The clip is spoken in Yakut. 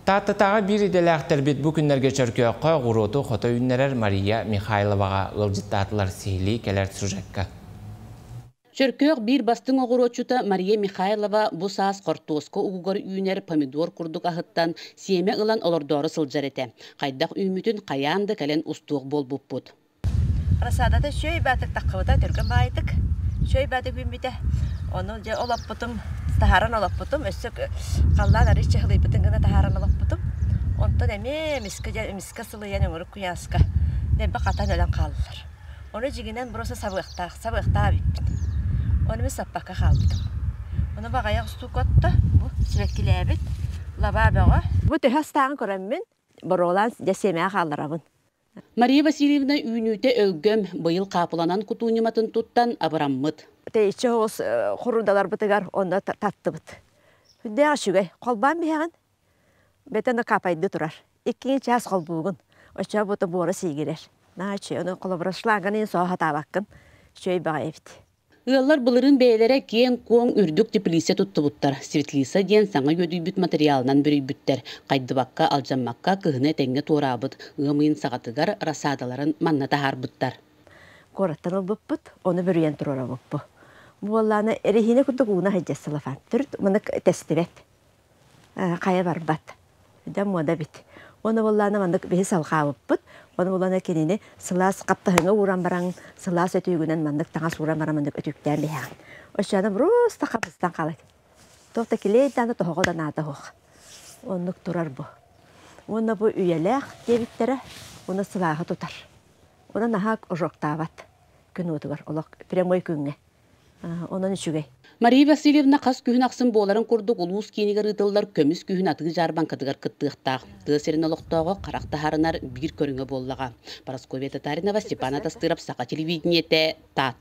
Тааттатааҕы биир идэлээхтэрбит бу күннэргэ Чөркөөххө оҕуруоту хото үүннэрэр Мария Михайловаҕа ыалдьыттаатылар сиһилии кэлэр сюжекка. Чөркөөх биир бастыҥ оҕуруотчута Мария Михайлова бу саас хортуоска угугар үүнэр помидор курдук аһыттан сиэмэ ылан олордоору сылдьар этэ. Хайдах үүммүтүн хайаан да кэлэн устуох буолбуппут. Рассадата сүөй баатык таххабыта түргэн баайытык, сүөй баатык үүммүтэ. Ону дьэ олоппутум, таһааран олоппутум, өссө халлаан арыый чыһылыйбытын гына таһааран олоппутум. Онтон эмиэ эмискэ дьэ эмискэ сылыйан өҥүрүк куйааска дэлби хатан өлөн хааллылар. Ону дьиҥинэн бруса сабыахтаах, сабыахтаах эбиппин. Ону мин саппакка хаалбытым. Ону баҕайы устуука отто, бу сибэккилээбит лабаа бөҕө. Бу төһө астааҕын көрөммүн, боруолаан дьэ сиэмэҕэ хаалларабын. Мария Васильевна үүнүүтэ өлгөм, быйыл хаапыланан кутуу ньыматын туттан абыраммыт. Тэйиччи соҕус хорундаларбытыгар онно таттыбыт. Күндээх үчүгэй. Холбаан биһэҕин. Бэтэн капайды турар. Иккиҥи чаас холбуугун. Оччо бута буора сиигирэр. На, үчүгэй. Холобура, шланганы соо сатаабаккын. Үчүгэй баҕайы эбит. Ыаллар былырыын бэйэлэрэ киэҥ-куоҥ үрдүк теплица туттубуттар. Светлица диэн саҥа үөдүйбүт материалынан бүрүйбүттэр. Хайдыбакка, алдьаммакка кыһыны этэҥҥэ туораабыт, ыам ыйын саҕатыгар рассадаларын манна таһаарбыттар. Куораттан ылбыппыт, ону бүрүйэн туруорабыппыт. Буоллаана, эрэһиинэ курдук ууна сылафан. Төрүт мыннык тэстибэт. хайа барбат дьэ муода эбит уонна буоллаҕына маннык биһи салҕаабыппыт ону буоллаҕына кинини сылаас хаптаһыҥҥа ууран бараҥ сылаас өтүүгүнэн маннык таҥас ууран баран маннык өтүүктээн биһээҥ оччоҕуна бруста хабыстан хаалыт туох да килиэй даҕаны тоһоҕо да наада суох оннук турар бу уонна бу үйэлээх диэбиттэрэ уонна сылааһы тутар уонна наһаа ожогтаабат күн уотугар олох прямой күҥҥэ онон үчүгэй. Мария Васильевна хас күһүн ахсын буоларын курдук улуус киинигэр ыытыллар көмүс күһүн атыы дьаарбаҥкатыгар кыттыахтаах. Тыа сирин олохтооҕо харах таһаарынар биир көрүҥэ буоллаҕа. Парасковья Татаринова, Степан Атастыров, Саха телевидениете, Таатта.